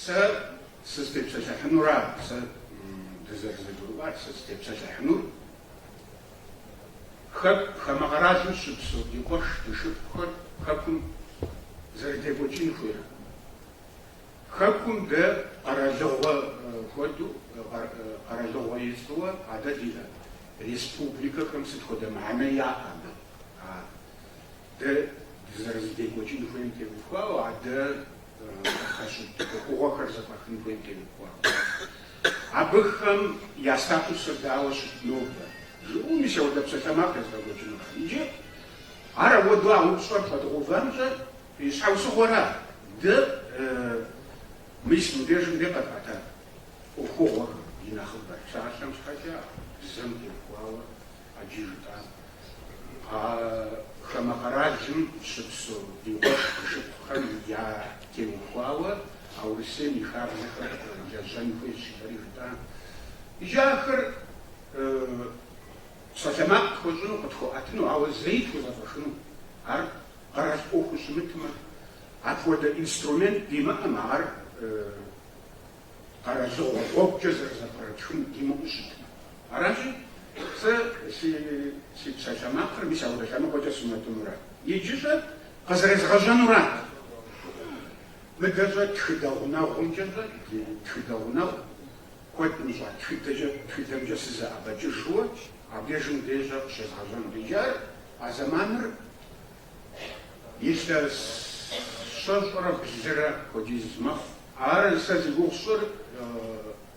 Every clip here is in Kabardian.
Сэ сызытепсэлъыхьынура? Сэ дызэрызэгурыӏуар, сэ сызытепсэлъыхьынур хэку хамэ къэралым щыпсэу ди къуэш, ди шыпхъухэр хэкум зэрыдекӏуэкӏын хуейрэ? Хэкум дэ къэралыгъуэ хуэдэу, къэралыгъуэ ицӏыуэ адэ ди республикэхэм сыт хуэдэ мыхьэнэ яӏэ абы? А Дэ дызэрызэдекӏуэкӏын хуейм теухуауэ, а дэ къытпэщыт ӏуэхугъуэхэр зэфӏэхын хуейм теухуауэ. Абыхэм я статусыр дауэ щыт нобэ? Жыӏэу мис апхуэдэ псалъэмакъ езгъэкӏуэкӏыну. Иджы ар апхуэдэу а упщӏэр пхуэдгъэувамкӏэ и щхьэусыгъуэра? Дэ мис мыбдежым де къэтӏэта ӏуэхугъуэхэм и нэхъыбэр псалъэм щхьэкӏэ, бзэм теухуауэ А иджы жытӏа а хамэ къэралым щыпсэу ди къуэш ди шыпхъухэм ятеухуауэ а Урысейм и хабзэхэр лэжьэн хуейщ жытӏэри жытӏа. Иджы ахэр псалъэмакъ тхуэщӏыну къытхуэӏэтыну, ауэ зэи тхузэфӏэхыну. Ар къэрал ӏуэхуу щымытмэ, апхуэдэ инструмент димыӏэмэ, ар къэралыгъуэ гъуэгукӏэ зэрызэфӏэтхыну димыӏэу щытмэ. Аращи, сэ си си псалъэмакъыр мис апхуэдэ лъэныкъуэкӏэ сунэтӏынурат. Иджы щӏэ къызэрезгъэжьэнурат. Мыдэ щӏэ тхыдэ гъунэгъумкӏэ щӏэ ди тхыдэ гъунэгъу куэд мыщӏа тхыдэкӏэ, тхыдэмкӏэ сызэӏэбэкӏыжу абдежым деж къыщезгъэжьэнут. Иджы ар, а зэманыр, Илъэс щэщӏрэ блырэ хуэдиз мэхъу. Ар сэ зи гугъу сщӏыр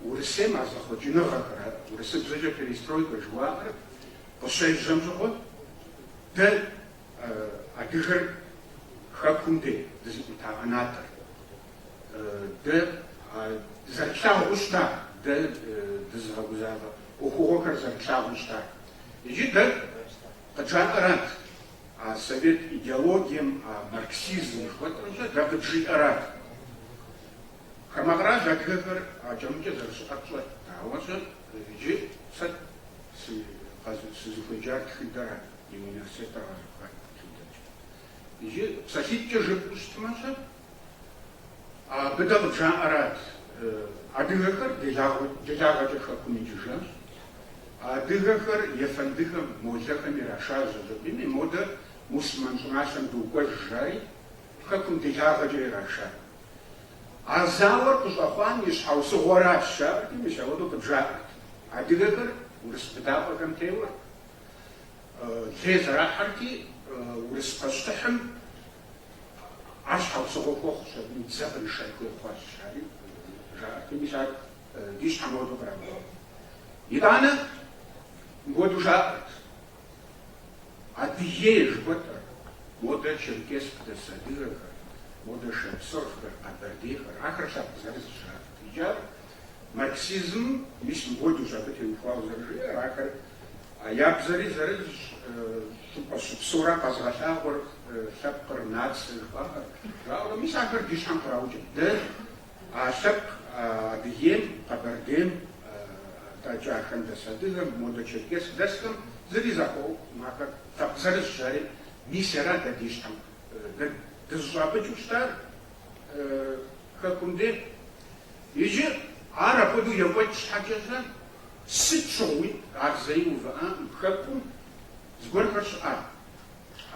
Урысейм а зэхъуэкӏыныгъэхэр, ар урысыбзэкӏэ перестройкэ жыхуаӏэр къыщежьэм щыгъуэ, дэ адыгэр хэкум де дызыӏута ӏэнатӏэр, дэ зэрытлъагъуу щыта, дэ дызыгъэгузавэ ӏуэхугъуэхэр зэрытлъагъуу щыта, иджы дэ къыджаӏэрат. А совет идеологием, а марксизм жыхуэтӏэмкӏэ дэ къыджиӏэрат. Хамэ кърал адыгэхэр акӏэ-мыкӏэ зэрыщыӏэр тщӏэрт, ауэ щӏэ иджы сэ сызыхуеджар тхыдэрат, ди университетыр къэзухар тхыдэкӏэ. Иджы псалъитӏкӏэ жыпӏэу щытмэ щӏэ Абы дэ къыджаӏэрат, адыгэхэр делагъэкӏэ хэкум икӏыжащ, адыгэхэр ефэндыхэм, молэхэм ирашащ, Жэбийми модэ мусульман щӏыналъэм докӏуэж жари, хэкум делагъэкӏэ ирашат. А зауэр къыщӏэхъуам и щхьэусыгъуэращ, жаӏэрти, мис ауэдэу къыджаӏэрт. Адыгэхэр урыс быдапӏэхэм теуэрт, лей зэрахьэрти, урыс пащтыхьым Ар щхьэусыгъуэ хуэхъущ, абы и дзэ къришэн хуей хъуащ, жари жаӏэрти, мис ар ди щхьэм ауэду къраубэ. Итӏанэ мыпхуэду жаӏэрт, Адыгея жыхуэтӏэр, модэ Черкесск дэс адыгэхэр, модэ шапсыгъхэр, къэбэрдейхэр, ахэр лъэпкъ зырызщ, жаӏэрт. Иджы ар марксизмым, мис мыпхуэдущ абы теухуауэ зэрыжиӏэр, ахэр Я бзэри зырызщ, щӏыпӏэ щыпсэура къэзыгъэлъагъуэр лъэпкъыр, нацэ жыхуаӏэр, жаӏэурэ мис ахэр ди щхьэм къраукӏэ. Дэ а лъэпкъ Адыгейм, Къэбэрдейм, атӏэкӏи ахэм дэс адыгэм, модэ Черкесск дэсхэм зыри зэхуэӏуэхукъым, ахэр лъэпкъ зырызщ, жари мис ара дэ ди щхьэм. Дэ дызыщӏапӏыкӏыу щытар Хэкум де. Иджы ар апхуэдэу екӏуэкӏ щхьэкӏэкӏэ, Сыт щыгъуи ар зэи увыӏакъым, хэкум зыгуэрхэр щыӏар,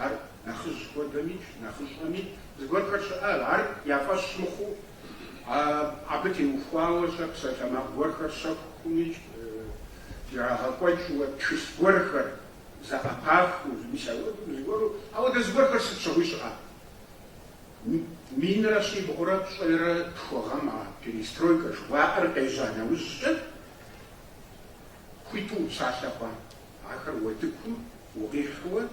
ар нэхъыжь хуэдэмикӏ, нэхъыщӏэмикӏ зыгуэрхэр щыӏар, ар я фӏэщ мыхъуу, абы теухуауэ щӏэ псалъэмакъ гуэрхэр щэхумикӏ, ирагъэкӏуэкӏыуэ тхылъ гуэрхэр зэӏэпахыу, мис ауэдэу зыгуэру, ауэдэ зыгуэрхэр сыт щыгъуи щыӏар. Минрэ щибгъурэ пщӏейрэ тху гъэм а перестройкэ жыхуаӏэр къежьа нэужькӏэ, Хуиту упсалъэ хъууэ, ахэр уэтыкум укъихьэу,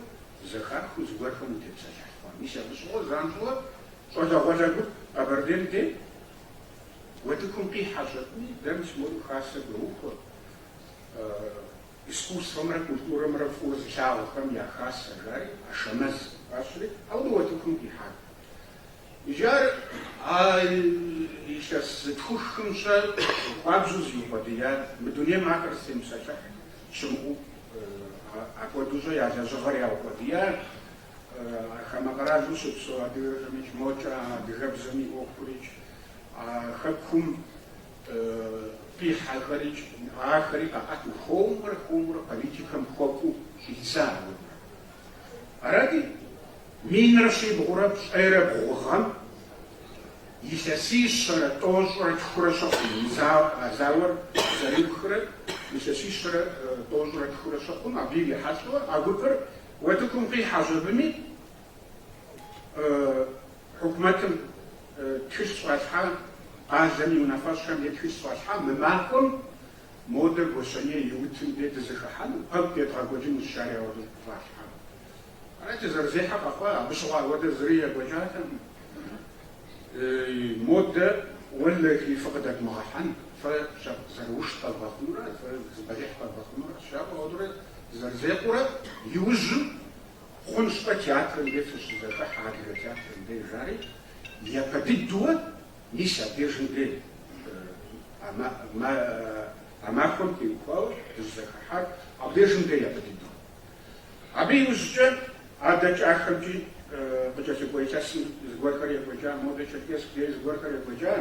зэхахыу зыгуэрхэм утепсэлъыхь хъууэ. Мис абы щыгъуэ занщӏэу щӏалэгъуалэ гуп Къэбэрдейм де уэтыкум къихьэ щӏэтми, дэ мис мору хасэ доухуэ искусствэмрэ культурэмрэ фӏыуэ зылъагъухэм я хасэ, жари, Ашэмэз фӏащри, ауэ уэтыкум къихьат. Иджы ар а илъэс зытхухым щӏэ хуабжьу зиукъуэдия, мы дунейм ахэр зытемыпсэлъыхь щымыӏэу, апхуэдэу щӏэ я лэжьыгъэр яукъуэдия, хамэ къэралым щыпсэу адыгэхэмикӏ мокӏэ а адыгэбзэм и ӏуэхурикӏ, а хэкум къихьэхэрикӏ, ахэри къаӏэту, хуэмурэ-хуэмурэ политикэм хуэкӏуу щӏидза ауэ. Арати. Минрэ щибгъурэ пщӏейрэ бгъу гъэм илъэсищэрэ тӏощӏрэ тхурэ щыхъум а зауэр зэриухрэ илъэсищэрэ тӏощӏрэ тхурэ щыхъум абы ирихьэлӏэу а гупыр уэтыкум къихьэщ абыми хьукумэтым тхылъ щӏалъхьа къалэм и унафэщӏхэм е тхылъ щӏалъхьа мы махуэм модэ Гуащэней и утым де дызэхыхьэну пэкӏу едгъэкӏуэкӏынущ жари ауэдэ щӏалъхьам. Ар дызэрызехьэр къэхъуа, абы щыгъуэ апхуэдэ зыри екӏуэкӏатэкъым. Модэ уэлэхи, фыкъыдэдмыгъэхьэн, фэ зэрыукӏ къэвгъэхъунурэ, фэ зы бэлыхь къэвгъэхъунурэ щыжаӏэу, ауэдурэ дызэрызекъуурэ, иужьым хъунщ-тӏэ театрым де фыщызэхыхьэ, адыгэ театрым де, жари, япэ дыдууэ, мис абдежым де, а махуэм теухуауэ дызэхыхьар, абдежым де япэ дыдууэ. Абы иужькӏэ адэ кӏахэмкӏи къыкӏэлъыкӏуэ илъэсым зыгуэрхэр екӏуэкӏа, модэ Черкесск дей зыгуэрхэр екӏуэкӏа.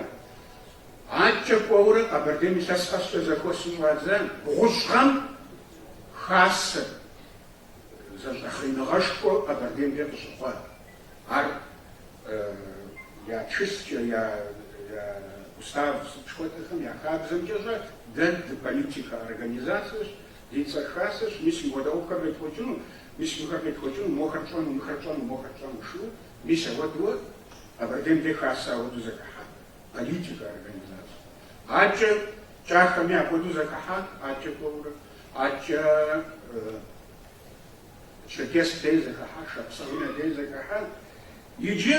Адэкӏэ кӏуэурэ Къэбэрдейм илъэс къэскӏэ зэхуэсын щӏадза бгъущӏ гъэм хасэ зэщӏэхъеныгъэшхуэ Къэбэрдеймкӏэ къыщыхъуат. Ар я тхылъкӏэ, я устав сыт жыхуэтӏэхэм я хабзэмкӏэщӏэ дэ дыполитикэ организацэщ. Ди цӏэр хасэщ, мис мыпхуэдэ ӏуэхухэр едгъэкӏуэкӏыну, мис мыхэр едгъэкӏуэкӏыну, мохэр тщӏэну, мыхэр тщӏэну, мохэр тщӏэну жиӏэу, мис ауэдууэ Къэбэрдейм де хасэ ауэду зэхыхьа политикэ организацэ. Атчэ кӏахэми апхуэдэу зэхыхьат, атчэ кӏуэурэ, атчэ Черкесск де зэхыхьа, Шапсыгъым де зэхыхьа, иджы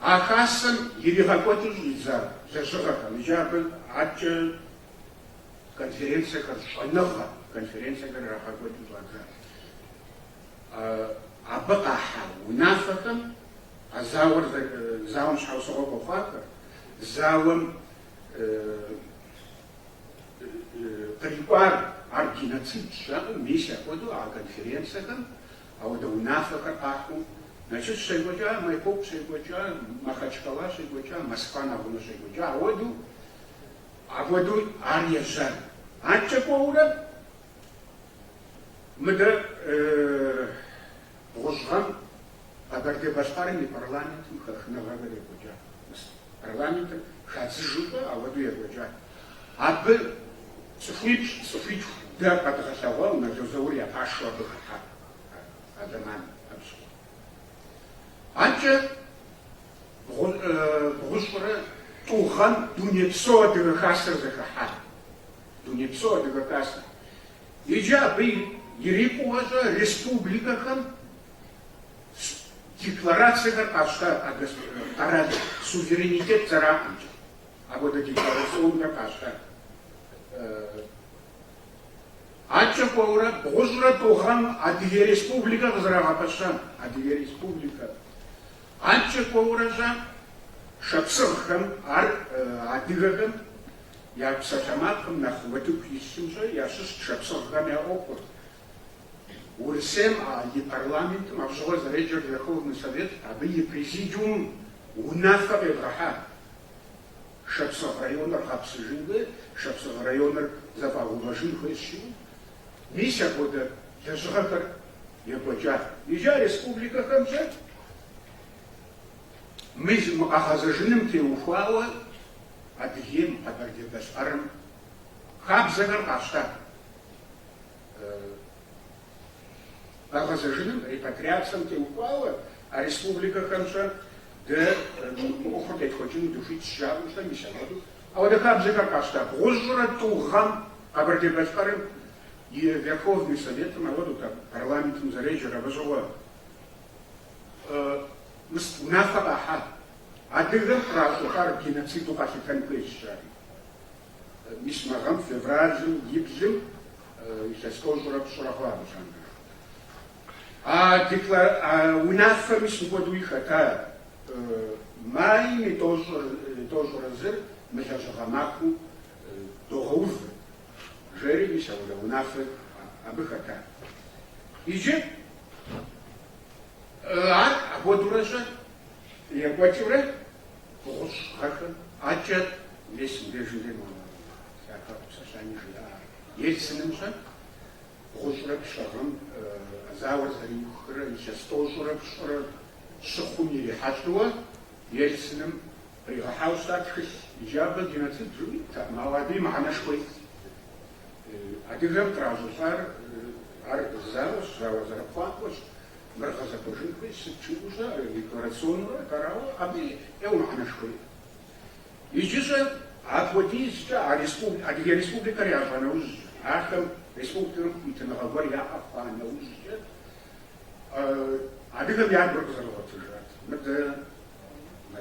а хасэм иригъэкӏуэкӏыу щӏидза лэжьыгъэхэм, иджы абы атчэ Конференцэхэр, щӏэныгъэ конференцэхэр ирагъэкӏуэкӏыу щӏадзащ. Абы къахьа унафэхэм а зауэр, зауэм щхьэусыгъуэ хуэхъуахэр, зауэм кърикӏуар ар геноцидщ жаӏэу, мис апхуэдэу а конференцэхэм ауэдэ унафэхэр къахьу, Налшык щекӏуэкӏа, Майкоп щекӏуэкӏа, Махачкала щекӏуэкӏа, Москва нэгъунэ щекӏуэкӏа, ауэдэу Апхуэдэу ар ежьар. Аткӏэ кӏуэурэ мыдэ бгъущӏ гъэм Къэбэрдей-Балъкъэрым и парламентым хэхыныгъэхэр екӏуэкӏат. Мис парламентыр хадзыжу кӏуэ, ауэдэу екӏуэкӏат. Абы цӏыхуипщӏ, цӏыхуитху дэ къэдгъэлъэгъуауэ Нало Заур я пашэу абы хэтат а зэманым абы щыгъуэ. Анкӏэ бгъущӏрэ тӏу гъэм Дунейпсо Адыгэ Хасэр зэхыхьа. Дунейпсо Адыгэ Хасэ. Иджы абы ирикӏуэщӏэ республикэхэм декларацэхэр къащта къэрал суверенитет зэраӏэмкӏэ апхуэдэ декларационхэр къащта. Адкӏэ кӏуэурэ, бгъущӏрэ тӏу гъэм Адыгей Республикэ къызэрагъэпэща Адыгей Республикэр, адкӏэ кӏуэурэщӏэ шапсыгъхэм, ар адыгэхэм я псалъэмакъым нэхъ утыку илъым щӏэ ящыщт шапсыгъхэм я ӏуэхур. Урысейм а и парламентым абы щыгъуэ зэреджэр Верховный Совет, абы и Президиумым унафэ къевгъэхьа. Шапсыгъ районыр гъэпсыжын хуей, Шапсыгъ районыр зэфӏагъэувэжын хуейщ жиӏэу, мис апхуэдэ лэжьыгъэхэр екӏуэкӏат. Иджы а республикэхэмкӏэ мы мы къэгъэзэжыным теухуауэ Адыгейм, Къэбэрдей-Балъкъэрым хабзэхэр къащтат. Къэгъэзэжыным, репатриацэм теухуауэ а республикэхэмкӏэ дэ мы ӏуэхур къетхуэкӏыну дыхуитщ, жаӏэу щӏэ мис апхуэдэу. Апхуэдэ хабзэхэр къащта бгъущӏрэ тӏу гъэм Къэбэрдей-Балъкъэрым и Верховный Советым апхуэдэут, абы парламентым зэреджэр, абы щыгъуэ мис унафэ къахьа адыгэм къращӏыхьар геноциду къалъытэн хуейщ, жари. Мис мы гъэм, февралым и блым, Илъэс тӏощӏрэ пщӏырэ хъуа абы лъандэрэ. А деклар... а унафэм мис мыпхуэдэуи хэта майм и тӏощӏыр, тӏощӏрэ зыр мылэжьыгъэ махуэу догъэув жери, мис апхуэдэ унафэр абы хэта. Иджы ар апхуэдэурэ щӏэ екӏуэкӏыурэ Бгъущӏ гъэхэм адэкӏэ мис мыбдежым де монолог япэӏу псэлъани жиӏар. Ельциным щӏэ бгъущӏрэ плӏы гъэм зауэр зэриухрэ илъэс тӏощӏрэ пщӏырэ щыхъум ирихьэлӏэуэ Ельцыным къигъэхьауэ щыта тхылъ иджы абы геноцид жиӏэу иттэкъым, ауэ абыи мыхьэнэшхуэ итт. Адыгэм къращӏылӏар ар зауэщ, зауэ зэрыпхъуакӏуэщ. Мыр гъэзэхуэжын хуейщ, сыт жиӏэу щӏэ, декларационнэурэ арауэ абы ӏейуэ мыхьэнэшхуэ иӏэу. Иджыщӏэ апхуэдизкӏэ а республи-, Адыгэ Республикэр ящӏа нэужькӏэ, ахэм республикэм хуитыныгъэ гуэр яӏэ хъуа нэужькӏэ, адыгэм я гур къызэрыгъуэтыжат. Мыдэ мы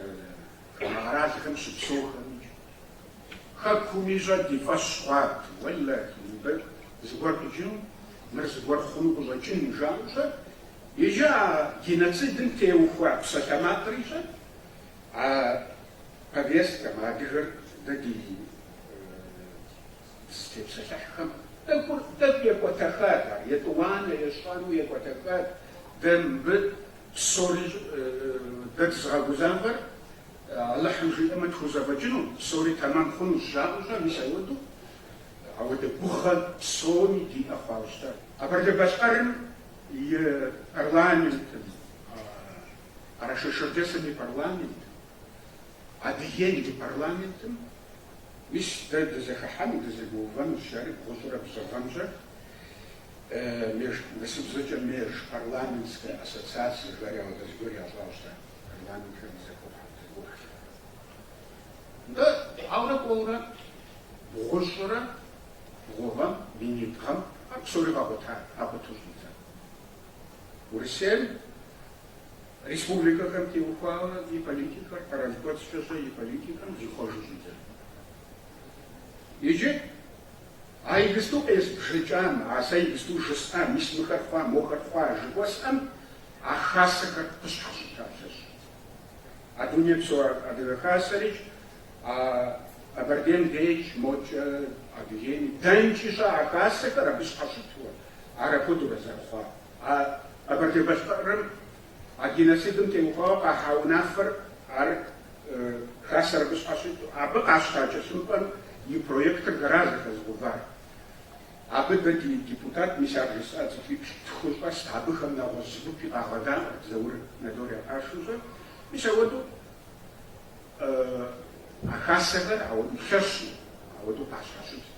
хамэ къэралхэм щыпсэухэми Хэкуми щӏэ ди фӏэщ хъуат, уэлэхьи, мыбы зыгуэр къикӏыну. Мыр зыгуэр хъуну къыщӏэкӏын, жаӏэу щӏэ. Иджы а геноцидым теухуа псалъэмакъри щӏэ а повесткэм, адыгэр дэ ди дызытепсэлъыхьхэм тӏэкӏур тӏэкӏу екӏуэтэхат ар, етӏуанэ, ещанэу екӏуэтэхат. Дэ мыбы псори дэ дызыгъэгузавэр Алыхьым жиӏэмэ тхузэфӏэкӏыну, псори тэмэм хъунущ жаӏэу щӏэ, мис апхуэдэу. Ауэдэ гугъэ псоми диӏэ хъуауэ щытат. Къэбэрдей-Балъкъэрым и парламентым, Къэрэшей-Шэрджэсым и парламентым, Адыгейм и парламентым, мис дэ дызэхыхьэну, дызэгуэувэну жари бгъущӏрэ блы гъэм щӏэ меж, урысыбзэкӏэ межпарламентскэ ассоциацэ жари ауэдэ зыгуэр ящӏауэ щытат, парламентхэм и зэхуэхьэм, зэгуэхухэр. Нтӏэ, ауэрэ кӏуэурэ бгъущӏрэ бгъу гъэм, минитӏ гъэм ар псори къэкъута, къэкъуту щӏидза. Урысейм республикэхэм теухуауэ и политикэр, къэрал кӏуэцӏкӏэщӏэ и политикэм зихъуэжу щӏидзат. Иджы а иджысту къезбжыкӏам, а сэ иджысту жысӏам, мис мыхэр хъуа, мохэр хъуа жыхуэсӏэм а хасэхэр къыщхьэщыта лъэщ. А дунейпсо Адыгэ Хасэрикӏ, а Къэбэрдейм деикӏ, мокӏэ Адыгейм дэнкӏи щыӏэ а Хасэхэр абы щхьэщытурэ, ар апхуэдэурэ зэрыхъуар. А Къэбэрдей-Балъкъэрым а геноцидым теухуауэ къахьа унафэр ар Хасэр абы щхьэщыту, абы къащта тхылъымпӏэм и проектыр дэра зэхэзыгъувар. Абы дэ ди депутат мис ар жысӏа цӏыхуиплӏ-тху щӏэст, абыхэм нэгъуэщӏ зыгупи къагъэдаӏуэрт Заур Налор я пашэу щӏэ. Мис ауэдэу а хасэхэр ауэдэу лъэщу, ауэдэу къащхьэщытт.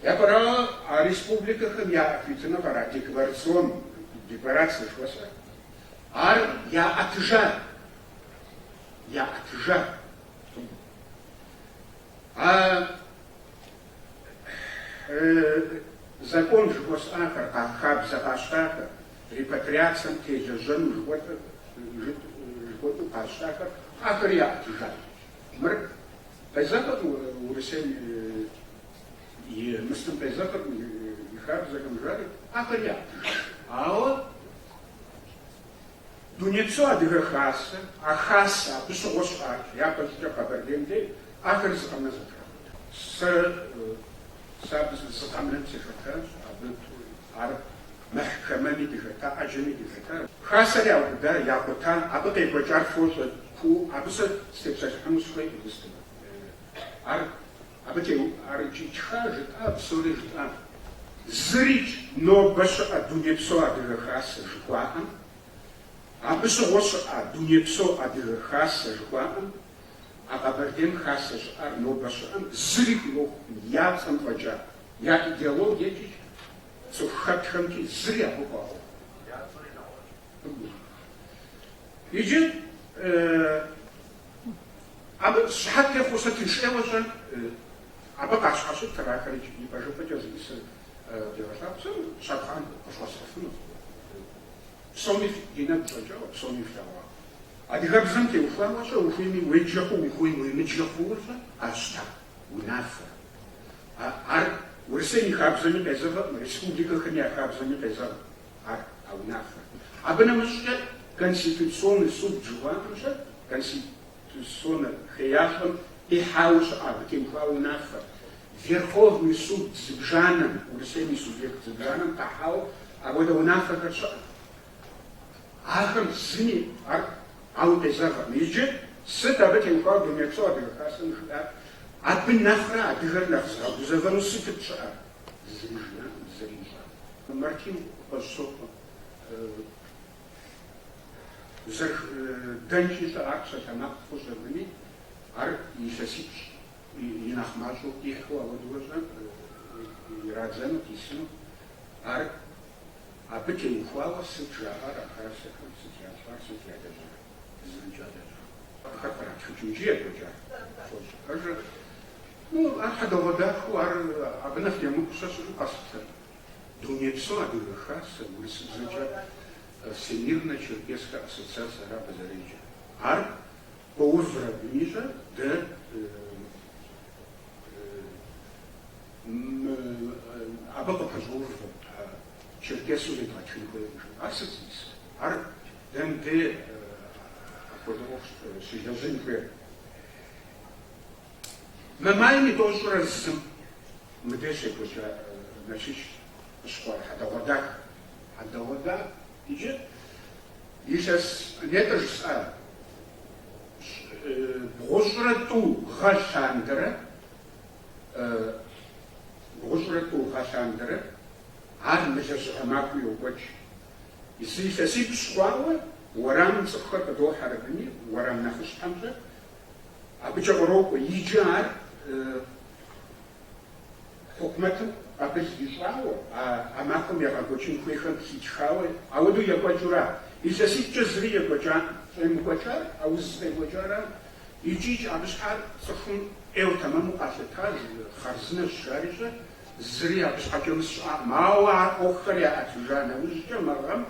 Япэрауэ, а республикэхэм яӏа хуитыныгъэр, а декларацион, декларацэ жыхуэсӏэр, ар яӏэтыжа, яӏэтыжа, а Закон жыхуэсӏахэр, а хабзэ къащтахэр, репатриацэм телэжьэну жыхуэтӏэу къащтахэр, ахэри яӏэтыжащ. Мыр къезэгъырт Урысейм и мыслым, къезэгъырт и хабзэхэм, жаӏэри, ахэри яӏэтыжащ. Ауэ Дунейпсо Адыгэ Хасэ, а Хасэ, абы щыгъуэ щыӏащ, япэщӏыкӏэ Къэбэрдейм дей ахэр зы къэмынэу зэтракъута. Сэ, сэ абы зы къэмынэм сыхэтащ, абы ар мэхькэмэми дыхэта, ӏэджэми дыхэта. Хасэр яубыда, якъута, абы къекӏуэкӏар фощӏэ, куу абы сэ степсэлъыхьыну сыхуейкъым иджысту. Ар. Абы теухуар икӏи ттха, жытӏа, псори жытӏа? Зырикӏ нобэ щыӏэ Дунейпсо Адыгэ Хасэ жыхуаӏэм? Абы щыгъуэ щыӏа Дунейпсо Адыгэ Хасэ жыхуаӏэм? А Къэбэрдейм Хасэ щыӏар нобэ щыӏэм зыри хуиӏуэхукъым я цӏэм фӏэкӏа, я идеологиекӏи, цӏыху хэтхэмкӏи зыри абы хуаӏуэхукъым. Иджы абы щыхьэт техъуэу сэ тыншӏейуэ-щэ абы къащхьэщытыр, ахэр и пэжыпӏэкӏэ зиӏысыр къыдегъэлъагъу, сэ щапхъэ къыфхуэсхьыфынущ. Псоми ди нэгу щӏэкӏауэ, псоми флъэгъуауэ. Адыгэбзэм теухуауэ-щэ, ухуейми уеджэ хъу, ухуейми уемыджэ хъууэ-щэ, къащта унафэр. Ар Урысейм и хабзэми къезэгъыркъым, республикэхэм я хабзэми къезэгъыркъым. ар а унафэр. Абы нэмыщӏкӏэ Конституционный суд жыхуаӏэм-щэ, конституционнэ хеящӏэм къихьауэ щыӏэ абы теухуауэ унафэр, Верховный суд зыбжанэм, Урысейм и субъект зыбжанэм къахьауэ апхуэдэ унафэхэр щыӏэт. Ахэм зыми ар ауэ къезэгъыркъым. Иджы сыт абы теухуауэ Дунейпсо Адыгэ Хасэм жиӏар? Абы нэхърэ адыгэр нэхъ зыгъэгузэвэну сытыт щыӏэр? Зым жиӏакъым, зыри жиӏакъым. Мартин Къуэщӏысокъуэ. Зэш, дэнкӏи-щэ ар псалъэмакъ хъущ абыни, ар илъэсипщӏ и нэхъ мащӏэу къихьу ауэдэу-щэ, ирадзэну къисыну. Ар абы теухуауэ сыт жаӏэр а хасэхэм, сыт ящӏар, сыт ялэжьар, зырикӏ ялэжьакъым. Абыхэр къратхыкӏынкӏи екӏуэкӏар хуощӏ. Пэжыр Ну, ар хьэдэгъуэдахэу, ар абы нэхъ емыкӏу сэ щыӏэу къэслъытэркъым, дунейпсо Адыгэ Хасэ, урысыбзэкӏэ Всемирнэ черкесскэ ассоциацэ ара абы зэреджэр. Ар къоувыри абы имищӏэ, дэ абы къыпэщӏоувэ, черкесу зедгъэтхын хуейщ жыпӏэу. Ар сыт зиӏыс? Ар дэ мыбдей апхуэдэ ӏуэху щылэжьын хуейр? Мы майм и тӏощӏрэ зым. Мыдэ щекӏуэкӏа Налшыч къыщыхъуар хьэдэгъуэдахэщ. Хьэдэгъуэда иджы илъэс нетӏэ жысӏа бгъущӏрэ тӏу гъэ лъандэрэ, бгъущӏрэ тӏу гъэ лъандэрэ, ар мы лэжьыгъэ махуи йокӏуэкӏ. Зы илъэсипщӏ хъуауэ уэрамым цӏыхухэр къыдохьэри абыни, уэрам нэхъыщхьэмкӏэ Абыкӏэ кърокӏуэ, иджы ар хьукумэтым къабыл ищӏауэ, а махуэм егъэкӏуэкӏын хуейхэм хитхауэ, ауэдэу екӏуэкӏыура? Илъэситӏкӏэ зыри екӏуэкӏакъым. Щӏемыкӏуэкӏар а уз къекӏуэкӏара? Икӏи-икӏи, абы щхьэкӏэ цӏыхум ӏейуэ тэмэму къалъытащ, хъарзынэщ, жари-щэ, зыри абы щхьэкӏэ мысэ щыӏакъым. Ауэ ар ӏуэхухэр яӏэтыжа нэужькӏэ, мы гъэм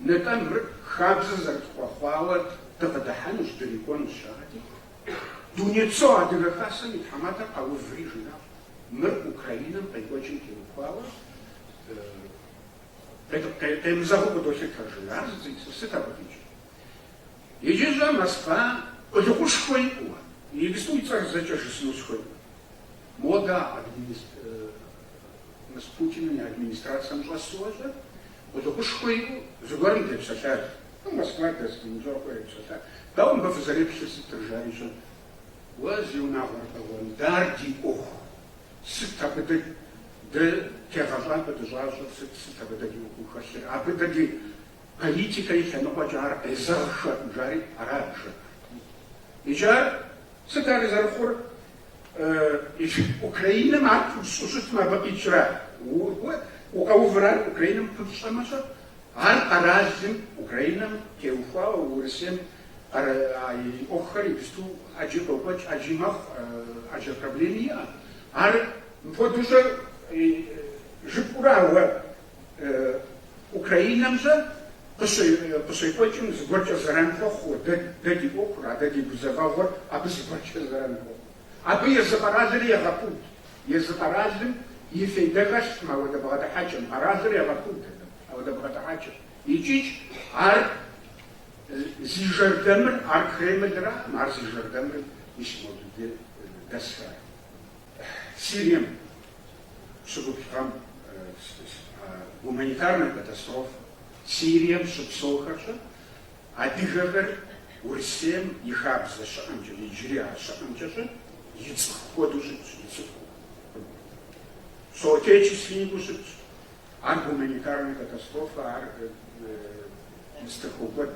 Нтӏэ, мыр хабзэ зэрытхуэхъуауэ дыкъыдыхьэнущ, дрикӏуэнущ, жаӏэти, Дунейпсо Адыгэ Хасэм и тхьэматэр къэуври жиӏащ, мыр Украинэм къекӏуэкӏым теухуауэ къемызэгъыу къыдолъытэ, жиӏар сыт абы къикӏыр? Иджы щӏэ Москва къулыкъушхуэ иӏэуэ, иджыпсту и цӏэр зэкӏэ жысыну схуейкъым. Модэ а админис... Мы Путиным и администрацэм щӏэсу уэ щӏэ, Къулыкъушхуэ иӏэу зыгуэрым депсэлъащ. Ар Москва дэс командировкэу епсэлъащ. Дауэ мыбы фызэреплъыр сытыр? жари щӏэ. Уэ зи унагъуэр бэгъуэн, дэ ар ди ӏуэху. Сыт абы дэ, дэ тегъэщӏапӏэ дыщӏащӏыр сыт, сыт абы дэ ди ӏуэху хэлъыр? Абы дэ ди политикэ и лъэныкъуэкӏэ ар къезэгъхэкъым, жари арат жыпӏэр. Иджы ар сыт ар зэрыхъур? Украинэм ар пыщӏу щытмэ, абы къикӏрэ? Укъэуврэ ар Украинэм пыпщӏэмэ щӏэ. Ар къэралым, Украинэм теухуауэ, Урысейм и ӏуэхухэр иджысту ӏэджи къокӏуэкӏ, ӏэджи мэхъу, ӏэджэ проблеми иӏэ. Ар мыпхуэдэу щӏэ жыпӏурэ, ауэ Украинэм щӏэ къыщекӏуэкӏым зыгуэркӏэ зэран хуэхъууэ, дэ, дэ ди ӏуэхур, адэ ди гузэвэгъуэр абы зыгуэркӏэ зэран хуэхъу. Абы езы къэралри егъэпуд. Езы къэралым и фейдэ хэлъкъым ауэдэ бгъэдыхьэкӏэм. Къэралыр егъэпуд ауэдэ бгъэдыхьэкӏэм. Икӏич ар зи жэрдэмыр, ар Кремлракъым, ар зи жэрдэмыр мис мобдей дэсхэр Сирием. щыгуплӏхэм гуманитарная катастрофа Сирием щыпсэухэр щӏэ адыгэхэр Урысейм и хабзэ щыӏэмкӏэ, иджыри а щыӏэмкӏэ щӏэ и цӏыху хуэдэу щытщ, и цӏыхуу, соотечественникыу щытщ. Ар гуманитарная катастрофа, ар мы цӏыху кӏуэд.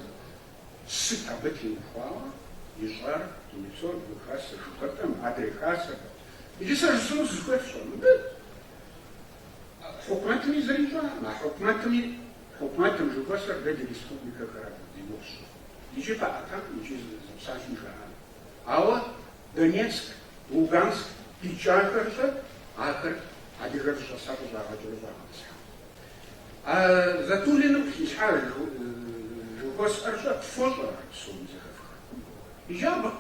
Сыт абы теухуауэ ищӏар? Дунейпсо Адыгэ Хасэ жыхуэтӏэм, адрей хасэхэм. Иджы сэ жысӏэну сызыхуейр щӏэ, мыбы хьукумэтми зыри ищӏакъым, а хьукумэтми, хьукумэтым жыхуэсӏэр дэ ди республикэхэрат, ди гугъущ. Икӏи къаӏэтакъым, икӏи зы псалъэ жаӏакъым. Ауэ Донецк, Луганск къикӏахэр щӏэ, ахэр адыгэр зыщӏэсам къыщӏагъэкӏыу щӏагъэтӏысхьэ. А Затулиным къыхилъхьа жыхуэсӏэр щӏэ, фощӏэ псоми зэхэфхар? Иджабэкъым.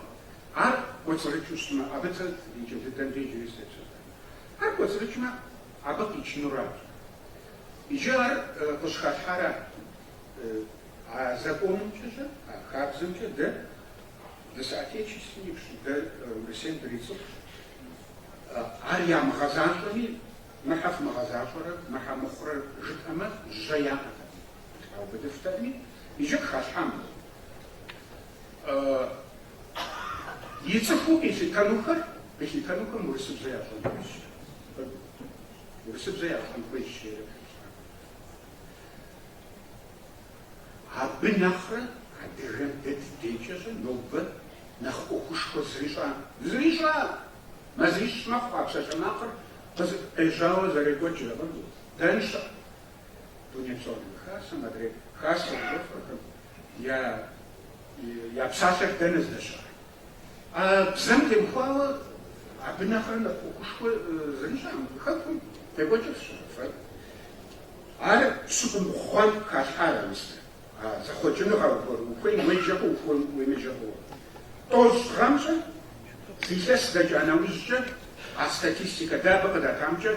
Ар кӏуэцӏрыкӏыу щытмэ, абы иджы дыдэм иджыри сытепсэлъэн. Ар кӏуэцӏрыкӏмэ, абы къичынуращ. Иджы ар къыщыхалъхьарат. А законымкӏэ щӏэ, а хабзэмкӏэ дэ ды соотечественникщ, дэ Урысейм дырицӏыхущ. Ар ямыгъэзащӏэми, мыхьэ фымыгъэзащӏэрэ, мыхьэ мыхъурэ жытӏэмэ, жьэ яӏэтэкъым, къаубыдыфтэкъыми, иджы къыхалъхьам дэ. и цӏыхуу къилъытэнухэр, къилъытэнухэм урысыбзэ ящӏэн хуейщ. Урысыбзэ ящӏэн хуейщ. Абы нэхърэ адыгэм дэ ди декӏэ щӏэ нобэ нэхъ ӏуэхушхуэ зыри щыӏэкъым, зыри щыӏэкъым! Мазищ мэхъу а псалъэмакъыр къежьауэ зэрекӏуэкӏрэ абы. Дэнщ дунейпсо хасэм адрей хасэу жыхуаӏэхэм, Я псалъэр дэнэ здэщыӏэр? А бзэм темыхуауэ абы нэхърэ нэхъ ӏуэхушхуэ зыри щыӏэкъым хэкум декӏуэкӏырщ фэ. Ар пщыкӏубгъу гъэм халъхьар мис а зэхъуэкӏыныгъэр ухуейм уеджэ хъуу, ухуейм уемыджэ хъууэ. Тӏощӏ гъэм щӏэ, зы илъэс дэкӏа нэужькӏэ, а статистикэ дэ абы къыдатамкӏэ,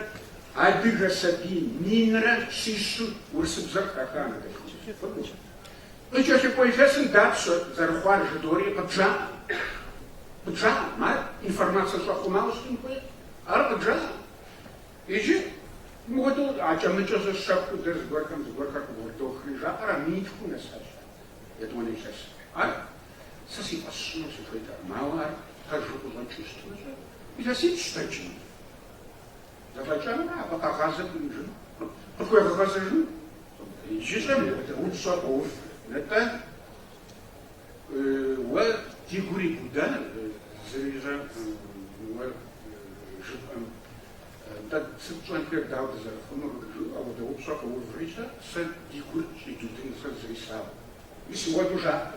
Адыгэ сабий минрэ щищым урысыбзэр къыхахат. Къыкӏэлъыкӏуэ илъэсым дапщэ зэрыхъуар жыдоӏэри къыбжаӏэкъым. Къыбжаӏэкъым, ар информацэ щӏэхъумауэ щытын хуейкъым. Ар къыбжаӏэкъым. Иджы ауэдэу акӏэ-мыкӏэ щӏэ щэхуу дэ зыгуэрхэм зыгуэрхэр къыӏурыдохри жаӏэр а минитхум нэсащ ар, етӏуанэ илъэсым. Ар сэ си фӏэщ сщӏыну сыхуейтэкъым, ауэ ар пэжу къыщӏэкӏыу щытмэ щӏэ, илъэсипщӏ дэкӏым. Зэфӏэкӏамэ, абы къэгъазэ имыӏэжыну, къыпхуегъэгъэзэжыну. Иджы щӏэ мыдэ упщӏэ къоув, нтӏэ, уэ ди гур ибуда, зыри щӏэ уэ жыпӏэм, нтӏэ, сыт тщӏэнхэр, дауэ дызэрыхъунур, жаӏэу апхуэдэ упщӏэ къоуври щӏэ, сэ ди гур щӏидудын, сэ зыри слъагъукъым. Мис уэду жаӏэ,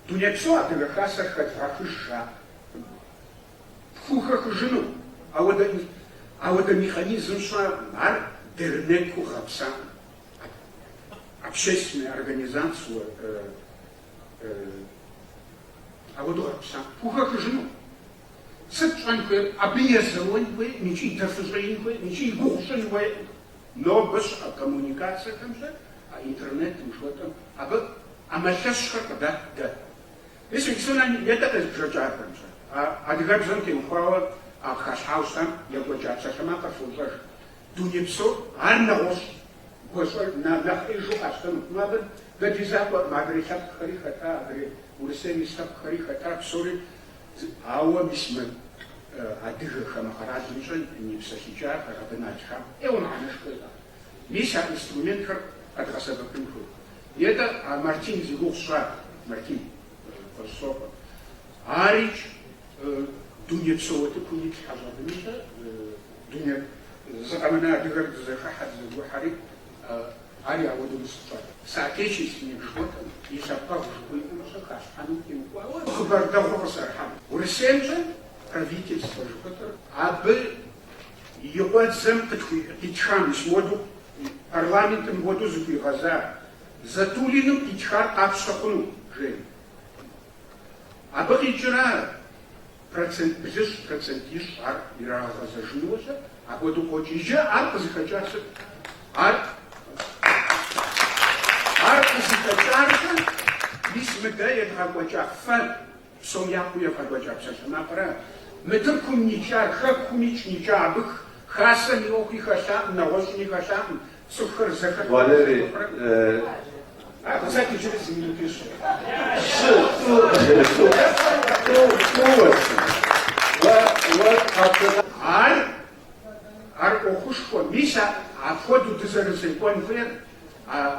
дунейпсо адыгэ хасэр хэдывгъэхыж жаӏэ. пхухэхыжыну, ауэдэ механизм щыӏэкъым, ар дернэкыу гъэпсакъым, общественная организация ауэдэу гъэпсакъым, пхухэхыжыну. Сыт пщӏэн хуейр? Абы езэуэн хуейкъым икӏи дэ фыщӏеин хуейкъым икӏи и гугъу щӏын хуейкъым. Нобэ щыӏэ коммуникацэхэм щӏэ, а интернетым жыхуэтӏэм, абы ӏэмал лъэщхэр къыдат дэ. Мис иджы нэ етӏэ къезбжэкӏахэмкӏэ, а адыгэбзэм теухуауэ а къыхалъхьауэ щытам екӏуэкӏа псалъэмакъыр фощӏэж. Дуней псор ар нэгъуэщӏщ. Гуащӏэр на нэхъ ӏижу къащтэнукъым абы. Дэ ди закъуэм, адырей лъэпкъхэри хэта, адырей Урысейм ис лъэпкъхэри хэта, псори зы. Ауэ мис мы адыгэ хамэ къэралымкӏэ непсэлъыкӏахэр абы налъхьам ӏейуэ мыхьэнэшхуэ иӏэкъым. Мис а инструментхэр къэдгъэсэбэпын хуейт. Етӏэ, а Мартин зи гугъу сщӏа, Мартин Къуэщӏысокъуэ. Арикӏ, дунейпсо уэтыкум итлъхьэ щӏэбынщӏэ, дунейр зы къэмынэ адыгэр дызэхыхьэ, дызэгухьэри, ари ауэдэу мис къыщӏат. Соотечественник жыхуэтӏэм и лъэпкъэгъу жыхуиӏэмкӏэ халъхьэным теухуауэ хъыбар дэгъур къысӏэрыхьам. Урысеймкӏэ правительствэ жыхуэтӏэр абы И къуэдзэм къытхуи къитхам мис мыуэду парламентым мыгуэду зыхуигъэза Затуллиным къитхар къапщтэ хъуну жери. Абы къикӏыра процент блыщӏ, процент ищӏ ар ирагъэгъэзэжынуэ щӏыр, апхуэдэу къокӏ. Иджы ар къызыхэкӏар сыт? Ар Ар къызыхэкӏаркъэ, мис мы дэ едгъэкӏуэкӏа фэ Псом япэу евгъэкӏуэкӏа псалъэмакъырэ мы Тыркум никӏар, Хэкумикӏ никӏа, абы Хасэм и ӏуэхуи хэлъакъым, нэгъуэщӏми хэлъакъым, цӏыхухэр зэхыхьэу зэхуэхъурэ. А кстати иджыри зы минут уиӏэщ. Ар, ар ӏуэхушхуэ, мис апхуэдэу дызэрызекӏуэн хуейр,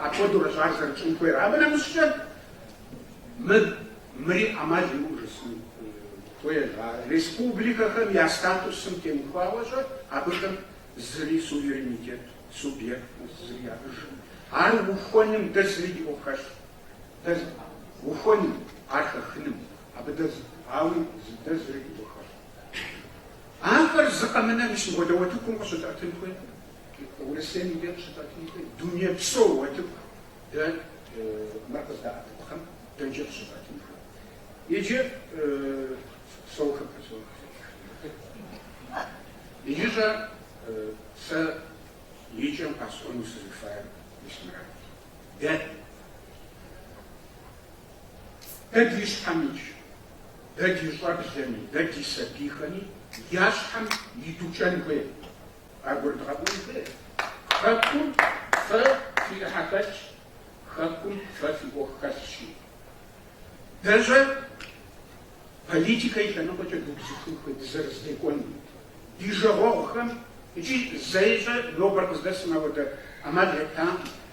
апхуэдэурэщ ар зэрытщӏын хуейр. Абы нэмыщӏкӏэ Мыр, мыри ӏэмал имыӏэу жысӏэн хуейр, а республикэхэм я статусым теухуауэщӏэ абыхэм зыри суверенитет, субъект зыри яӏэжым. Ар ухуэным дэ зыри ди ӏуэху хэлъ. Дэ ухуэным, ар хэхыным, абы дэ зы, ауи зы дэ зыри ди ӏуэху хэлъ. Ахэр зы къэмынэ мис мыгуэдэ уэтыкум къыщытӏэтын хуей. Урысейм и дей къыщытӏэтын хуей, дунейпсо уэтыку. Дэ мыр къыздэтӏэтыпхъэм дэнкӏи къыщытӏэтын хуей? Иджы соух пэсо къытетхынхэ. Иджыщӏэ сэ и кӏэм къэсӏуэну сызыхуейр мис мырат. Дэ. Дэ ди щхьэм икӏ, дэ ди щӏэблэми, дэ ди сабийхэми я щхьэм идукӏэн хуей. Ягурыдгъэӏуэн хуей. Хэкум фэ фи ӏыхьэ хэлъщ, хэкум фэ фи ӏуэху хэлъщи. Дэщӏэ политикэ и лъэныкъуэкӏэ дубзыхун хуей, дызэрызэдекӏуэнум, ди жагъуэгъухэм икӏи зэищӏэ нобэр къыздэсым ауэдэ ӏэмал еттакъым.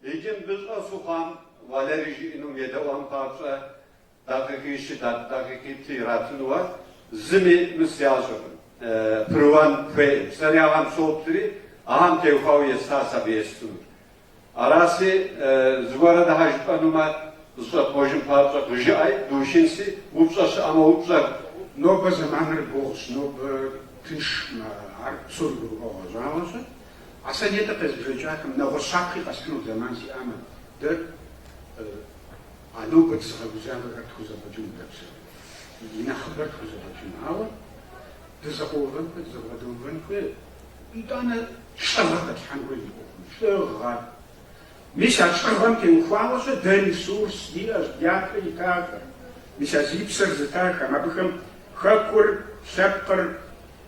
Иджы мыбы щӏэсу хъуам Валерий жиӏэнум едэӏуэн папщӏэ дакъикъи щыдат, дакъикъитӏ иратынуэ зыми мысэ ящӏыркъым. Пэрыуэн хуейкъым. Сэри ахэм соплъри, ахэм теухуауэ естащ абы естынур. Араси, зыгуэрэ дахэ жыпӏэнумэ, зэщӏэпкъуэжын папщӏэ къыжыӏэи, душынси, упщӏэ щыӏэмэ упщӏэ. Нобэ зэманыр гугъущ, нобэ тыншмэ, ар псор гурыӏуэгъуэ щӏагъуэщ. А сэ нетӏэ къезбжэкӏахэм нэгъуэщӏ щапхъи къэсхьыну зэман сиӏамэ, дэ а нобэ дызыгъэгузавэхэр тхузэфӏэкӏыну дэпсэу. И нэхъыбэр тхузэфӏэкӏыну. Ауэ дызэкъуэувэн хуейр, дызэбгъэдэувэн хуейр, итӏанэ лӏыгъэ хэтлъхьэн хуейр зи ӏуэхум. Лӏыгъэ. Мис а лӏыгъэм теухуауэ-щэ дэ ресурс диӏэщ, дяпэ итахэр. Мис а зи псэр зытахэм, абыхэм хэкур, лъэпкъыр,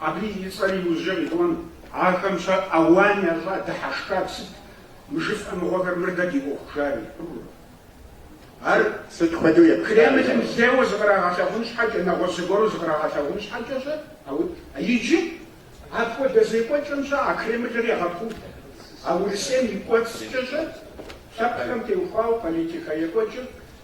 Абы и цӏэр иужьрэ къиӏуэн, ахэм щэ ауан ящӏа дыхьэшхар сыт? Мы жыфӏэ мыгъуэхэр мыр дэ ди ӏуэху жари? Ар сыт хуэдэу епхыжа? Кремлым лейуэ зыкърагъэлъагъун щхьэкӏэ, нэгъуэщӏ зыгуэру зыкърагъэлъагъун щхьэкӏэ щэ? Ауэ. Иджы апхуэдэ зекӏуэкӏэм щэ а Кремлыр егъэпуд. А Урысейм и кӏуэцӏкӏэ щэ? Лъэпкъхэм теухуауэ политикэ екӏуэкӏыр